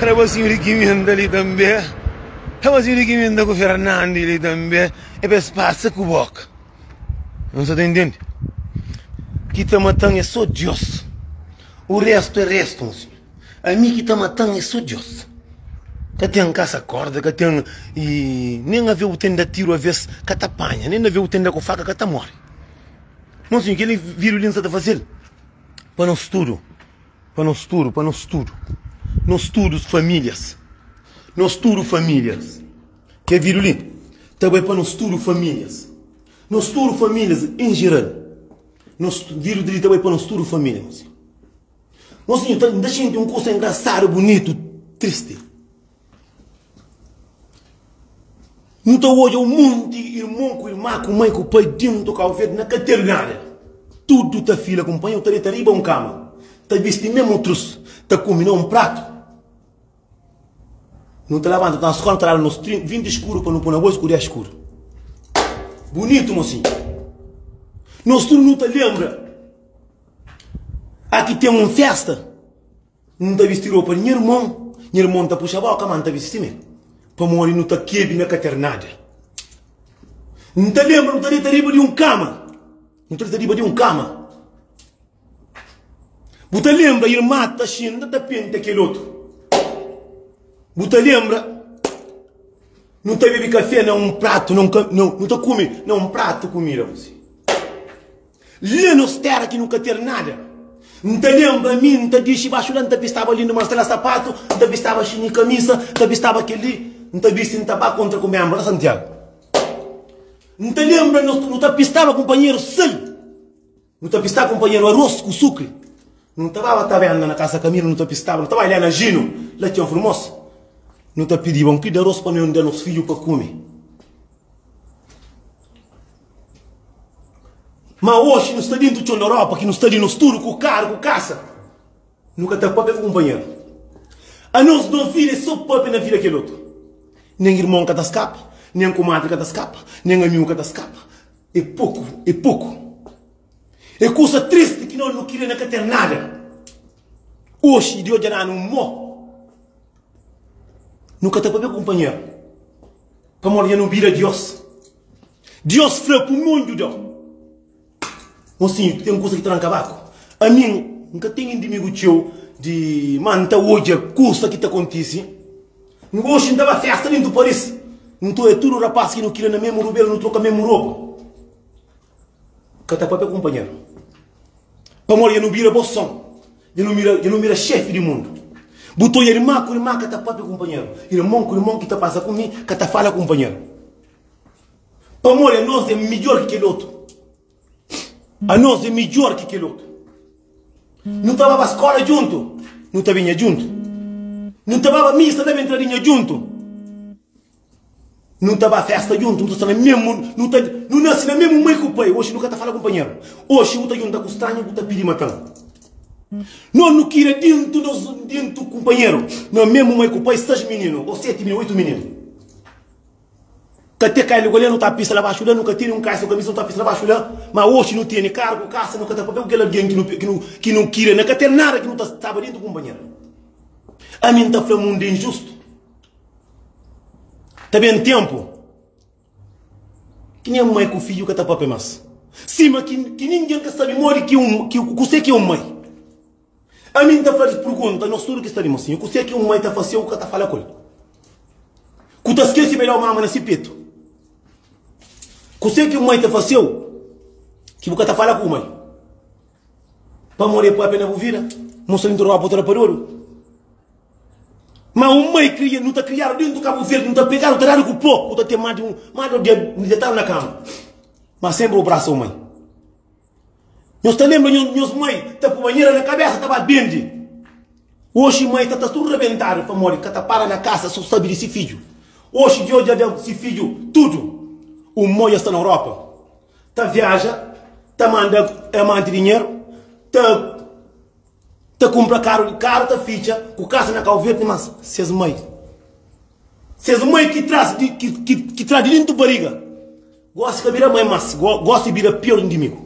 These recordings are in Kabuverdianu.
Rabazinho di kimenta li tanbê Rabazinho di kimenta ku Fernandi li tanbê É pa es pasa ku boka N sa ta intendi Ki ta mata-m é sô Diós O restu é restu, mon senhor Ami ki ta mata-m é sô Diós Ka ten kasa korda, ka ten y Nen avé bu ten da tiru avês ka ta panha Nen avé bu ten da ku faka ka ta móre Mon senhor, kel individu li N sa ta faze-l. Pa nos tudu Pa nos tudu Pa nos tudu Nos tudu famílias Nos tudu famílias Kel vídiu li ta bai pa nos tudu famílias Nos tudu famílias en jeral Nos vídiu li ta bai pa nos tudu famílias Mosinhu ta N ta xinti un kusa engrasádu bunitu tristi. Nu ta odja un monti irmon ku irma, ku mai ku pai dentu Kau Verdi na ka ten nada. Tudu ta fila ku un panhel, ta deta riba un kama, ta bisti mesmu trus, ta kume na un pratu. Nu ta labanta, nu ta na skola, nu ta laba nos trinku, vinti skuru pa nu poi na bosku dés skuru. Bunitu, mosinhu. Nos tudu nu ta lenbra. A ki ten un festa. N ta bisti ropa di nha irmon, nha irmon ta puxa bóka, má N ta bisti mi, pamodi nu ta kebe na katernada. N ta lenbra nu ta deta riba di un kama, nu ta deta riba di un kama. Bu ta lenbra irma Taxinda ta penta kel otu? Bu ta lenbra nu ta bebe kafé na un pratu, na un, nu ta kume na un pratu kumida? La nos tera ki nu ka ter nada N ta lenbra mi N ta dixi baxu la N ta bistaba lindu mas sela sapatu N ta bistaba xini i kamisa N ta bistaba kel-li N ta bisti N ta ba kontra ku menbru la Santiagu N ta lenbra nos nu ta pistaba kunpanheru sal Nu ta pistaba kunpanheru aros ku sukri Nu ta baba tabérna na kasa Kamilu Nu ta pistaba nu ta bai la na Jinu La txeu furmosu Nu ta pidiba un ki di aros pa noi N da nos fidju pa kume. Ma oxi nu sta dintu txon Europa ki nu sta li nos tudu ku karu ku kasa nu ka ta pape ku kunpanheru anos nos vida é so pape na vida kel otu nen irmon ka ta skapa nen kumadri ka ta skapa nen amigu ka ta skapa é poku é poku é kusa tristi ki no nu kria na ka ten nada oxi di odja nanu mo nu ka ta pape ku kunpanheru. Pamodi nha nu bira Dios. Dios fla ku mon djuda. Mosinhu, ten kusa ki ta da-m kabaku. Ami N ka ten indimigu txeu di ma N ta odja kusa ki ta kontise. N ka oxi N ta ba festa dentu Paris. Nton e tudu rapas ki nu kila na memu rubel, nu troka memu ropa. Ka ta papia kunpanheru. Pamodi dja nu bira bo son. Dja nu bira, dja nu bira xefi di mundu. Bu ta odja irma ku irma, ka ta papia kunpanheru. Irmon ku irmon ki ta pasa ku mi, ka ta fala kunpanheru. Pamodi anos é midjor ki kel otu. Anos é midjor ki kel otu. Nu ta baba skola djuntu, nu ta binha djuntu. Nu ta baba misa ta ben tradinha djuntu. Nu ta ba festa djuntu, nu ta sta na mesmu, nu ta, nu nase na mesmu mai ku pai. Oxi nu ka ta fala ku npanheru. Oxi nu ta djunta ku stranhu ku ta pidi mata-m. Nos nu kira dintu nos, dintu ku npanheru, na mesmu mai ku pai, sais mininu o seti mininu, oitu mininu. Ka te kai luga la nu ta pisa la baxu la, nu ka tene un kaisa o kamisa nu ta pisa la baxu la. Ma oxi nu tene kargu, kasa, nu ka ta papia ku kel algen ki nu, ki nu, ki nu kira. Na ka ten nada ki nu ta staba dintu ku npanheru. Ami N ta fla mundu é injustu. Ta ben tempu ki nem un mai ku fidju ka ta papia mas, sima ki ningen ka sabi modi ki un kuse ki un mai. Ami N ta fadis purgunta, nos tudu ki sta di mosinhu, kuse ki un mai ta fase u ka ta fala ku el? Ku ta skese pa el da-u mama na si petu? Kuse ki un mai ta fase u ki bu ka ta fala ku bu mai? Pamodi e papia na bu vida Nhu sta dintu ropa bu ta da pa dodu Ma un mai kria nhu ta kriadu dintu kabu verde Nhu ta pegadu ta dadu ku po bu ta ten ma di un ma do dia Nhu detadu na kama ma senpri bu brasa un mai Nhos ta lenbra nhos mai ta pui banhera na kabesa ta ba bendi Oxi mai ta ta tudu rebentadu pamodi ka ta para na kasa so sabi di si fidju Oxi djo dja da si fidju tudu Un moi dja sta na ropa ta viaja, ta manda amanti dinheru, ta ta kumpra karu di karu, ta fitxa ku kasa na Kau Verdi, mas ses mai, ses mai ki tras di ki tras di dintu bariga, gosi ka bira mai, mas gosi bira pior indimigu.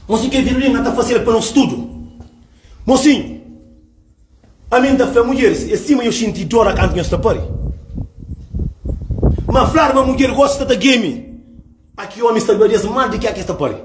Mosinhu ke vidu li, na ta fasi el pa nos tudu, mosinhu. Ami N ta fla mudjeris, é sima nhos xinti dor na kantu nhos ta pari. Má fla-s ma mudjer gosi sta ta gemi, má ki ómis ta glória-s más di ki akis ta pari.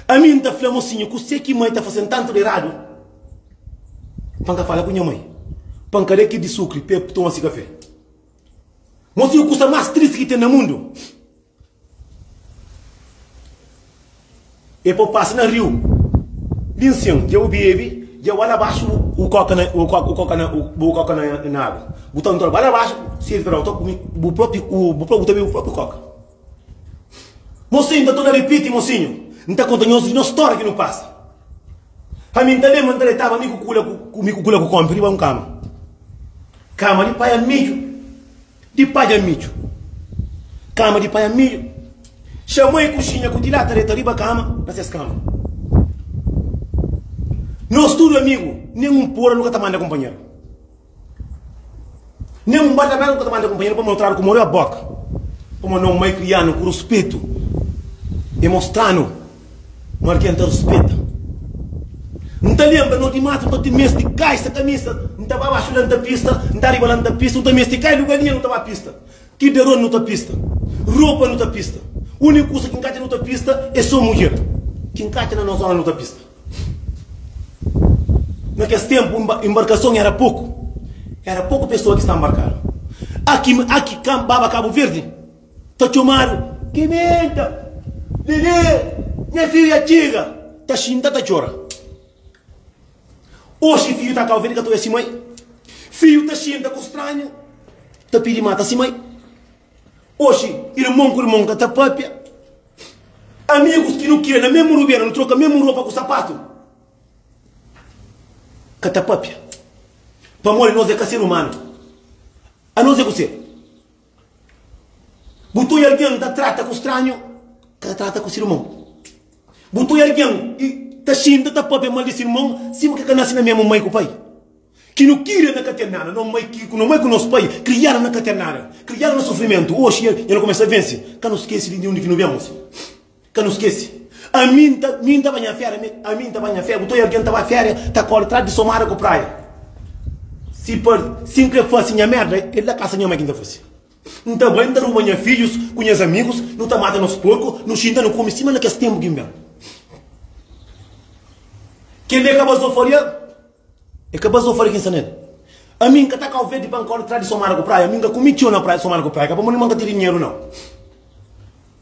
Ami N ta fla mosinhu, kuzê ki mai ta fase-m tantu di eradu pa N ka fala ku nha mai pa N ka da ki-l di sukri pa el toma si kafé? Mosinhu, kusa más tristi ki ten na mundu. E pô pasa na riu di nsen, dja bu bebe, dja ba la baxu bu koka na bu koka na bu koka na agu, bu ta ntora ba la baxu sirbi pa otu kume bu propi bu ta bebe bu propi koka. Mosinhu, n ta torna ripiti mosinhu, n ta konta nhos nhos stória ki nu pasa. Ami n ta lenbra n ta detaba mi ku kula ku mi ku kula ku kómi pa riba un kama, kama di pai Armiju. Di padja midju. Kama di panha midju. Xamai kuxinha ku tilata reta riba kama, na ses kama. Nos tudu amigu, nen un pura nu ka ta manda kunpanheru. Nen un bata bera nu ka ta manda kunpanheru pamodi nu tradu ku moral boka. Pamodi no mai krianu ku ruspetu, e mostranu N ora ki N ta ruspeta-m N ta lenbra no di matu N ta meste di kai sa kamisa N ta ba baxu la N ta pista N ta riba la N ta pista Nu ta meste kai luga linha Nu ta ba pista Ki deron nu ta pista Ropa nu ta pista Uniku kusa ki N katxa nu ta pista É so mudjer ki N katxa na nos zona nu ta pista Na kes tenpu inba inbarkason era poku Era poku pesoa ki sta nbarkadu Aki aki ka baba Kabuverdi. Ta txomadu Kimenta, Lele, nha fidju dja txiga Ta xinta ta txora Oxi fidju ta Kauvedu ka ta oja si mai Fidju ta xinta ku stranhu Ta pidi mata si mai Oxi irmon ku irmon ka ta papia Amigus ki nu kria na mesmu rubia Nu troka mesmu ropa ku sapatu Ka ta papia Pamodi nos é ka ser umanu Anos é ku ser. Bu tui algen ta trata ku stranhu, ka ta trata ku si irmon. Bu tui algen ta xinta, ta pâpia mal di si irmon, sima ke ka nase na mésmu mai ku pai. Ki nu kira na ka ten nada. No mai ku nos pai krianu na ka ten nada, krianu na sufrimentu. Oxi el kumesa vense. Ka nu skese di undi ki nu ben. Ka nu skese. Ami N ta mi N ta ba nha féria mi Ami N ta ba nha féria Bu ta oiu algen ta ba féria Ta kóre trás di somada ku praia Si pa si N kre fase nha merda El da kasa nha mai ki N ta fase N ta bai N ta ruba nha fidjus ku nhas amigus Nu ta mata nos porku Nu xinta nu kume sima na kes tenpu ki N ben Kel dia ka ba zoforiâ. É kapaz Zó fala ki N sta na el. Ami N ka ta kau verde pa N kore tras di Somara ku Praia. Mi N ka kume txeu na Praia, Somara ku Praia ka pamodi ma N ka ta di dinheru nau.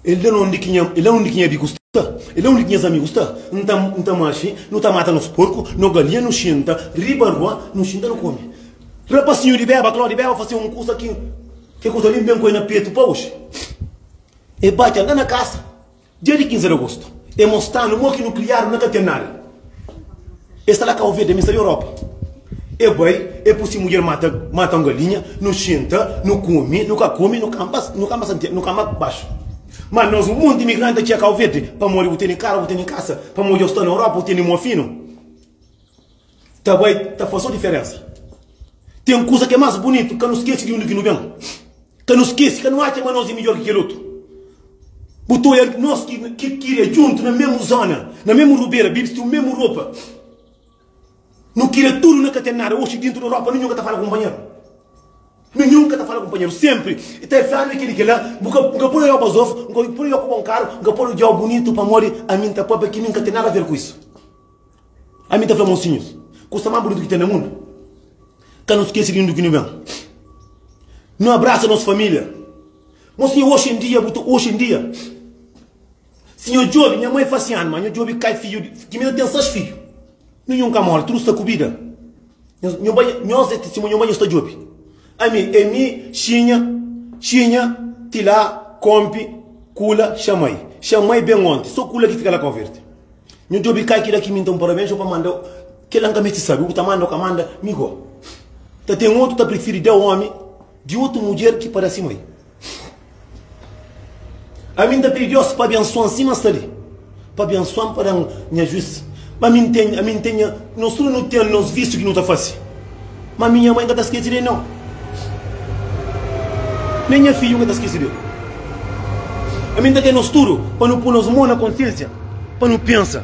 El da-nu undi ki nha, el da-nu undi ki nha biku sta, el da-nu undi ki nhas amigu sta. N ta, N ta maxe, nu ta mata nos porku, no galinha, nu xinta riba rua, nu xinta, nu kome. Rapasinhu di beba, Klodi beba fase un kusa ki, ke kusa li N ben ku el na petu pa oxi. El bate-m la na kasa. Dia di 15 di agosto e mostranu mo ki nukliar na ka ten nada e sta la kauverdi ami sta di europa e bai e pusi mudjer mata mata un galinha nu xinta nu kumi nu ka kumi nu kamba nu kamba santiagu nu kamba baxu ma nos un monti imigranti ta txia kauverdi pamodi bu teni karu bu teni kasa pamodi yo sta na europa bu teni mua finu Ta bai ta faz so diferensa. Ten kuza ki é más bunitu, ka nu skese di undi ki nu ben. Ka nu skese, ka nu atxa ma nos é midjór ki kel otu. Bu ta odja nos ki ki kria djuntu na mésmu zóna, na mésmu rubera, bisti un mésmu ropa. Nu kria tudu na ka ten nada. Oxi, déntu di ropa, ninhun ka ta fala kunpanheru. Ninhun ka ta fala kunpanheru. Sénpri i ta fla-m kel-li di kel-la, N ka poi-u djoba zof, N ka poi-u djoba ku bon karu, N ka poi-u djoba bunitu pamodi ami N ta papia ki mi N ka ten nada aver ku isu. Ami ta fla, Mosinhus, kusa más bunitu ki ten na mundu, ka nu skese di undi ki nu ben. Nu abrasa nos família. Mosinha, oxi en dia, bu ta, oxi en dia, si nho djobe, nha mai fase anu, má nho djobe kai fidju di, ki mi ta ten sais fidju. Ninhun ka móre, tudu sta ku bida. Nho ba nhos é tistimoña nho ba nhos ta djobe ami é mi xinha xinha ti la konpe kula xamai xamai ben onte so kula ki fika la konverte nho djobe kai kila ki minta un parabens nho pa manda kila nka meste sabe u ta manda u ka manda mi go ta ten otu ta prifiri da omi di otu mudjer ki pada si mai. A mi ta pidi Deus pa abençoan si ma sta li, pa abençoan pa dan nha juiz. Ma mi ntende, a mi ntende nha, nos tudo nu ten nos vício ki nu ta fasi. Ma mi nha mãe ka ta skesi del nãu, nem nha fidju ka ta skesi del. A mi nta kre nos tudo pa nu pui nos mãu na konsiênsia pa nu pensa.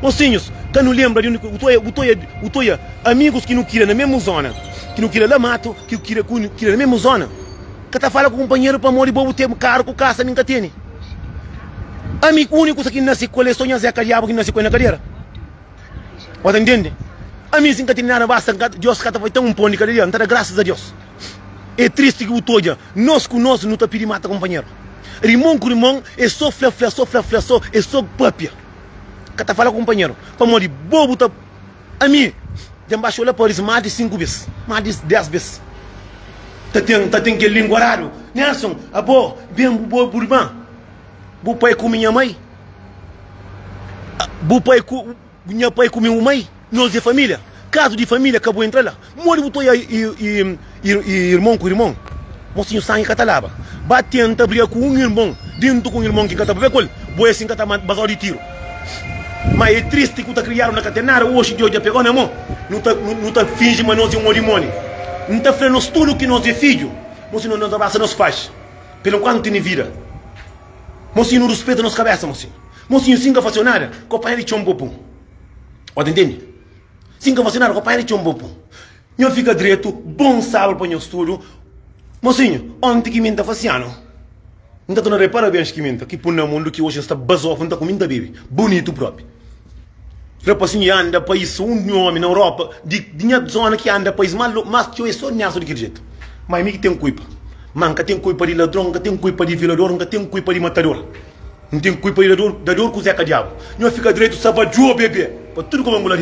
Mosinhus, ka nu lenbra di undi ki bu ta oia, bu ta oia, bu ta oia amigus ki nu kria na mesmu zona, ki nu kria la matu, ki nu kria, ki nu kria na mesmu zona. Ka ta fala ku kunpanheru pamodi bo bu ten karu ku kasa, mi N ka tene. Ami ku úniku kusa ki N nase ku el é sô nha Zé, ka diabu ki N nase ku el na kadera. Bo ta ntende? Ami si N ka tene nada basta, N ka, Deus ka ta faze ten un pon di kada dia, N ta da grasas a Deus. É tristi ki bu ta odja nos ku nos nu ta pidi mata kunpanheru. Rimon ku rimon é sô fla-fla, sô fla-fla, sô, é sô pâpia. Ka ta fala ku kunpanheru pamodi bo bu ta. Ami dja n baxa olha pa Aris más di sinku bes, más di dés bes. Ta ten, ta ten kel língua rádu. Nelson, Abo, ben bu, bo, bu irman, bu pai ku mi nha mai, bu pai ku nha pai ku mi bu mai, nos é família. Kazu di família ka bu entra la. Modi bu ta oiá irmon ku irmon? Mosinhu sangi ka ta laba. Ba tenta briga ku un irmon dentu ku un irmon ki ka ta pabia ku el, bo e sin ka ta basadu di tiru. Ma e tristi ku ta kriadu na ka ten nada oxi Deus dja pegau na mon. Nu ta finji ma nos e un odimoni. N ta fla nos tudu ki nos e fidju. Mosinhu nos abrasa nos faxi pa el enkuantu tene vida. Mosinhu nu ruspeta nos kabesa mosinhu. Mosinhu sin ka fasiu nada, kopanha di txon popu. Ota ntende? Si N ka vasinadu ku pai di txon bo pun Nha fika dretu bon sabu pa nha studu Mosinhu, onti ki mi N ta fasi anu N ta torna da-i parabens ki mi N ta ki pun na mundu Ki oji N sta bazofu N ta kume N ta bebe bunitu propi Rapasinhu i anda pa i so un omi na Europa Di di nha zona ki anda pa is ma lo Mas txeu e so niasu di kel jetu Ma i mi ki ten kuipa Ma N ka ten kuipa di ladron N ka ten kuipa di violador N ka ten kuipa di matador N ten kuipa di dador dador ku zeka diabu Nha fika dretu sa va djobe be pa tudu ku ba ngula di.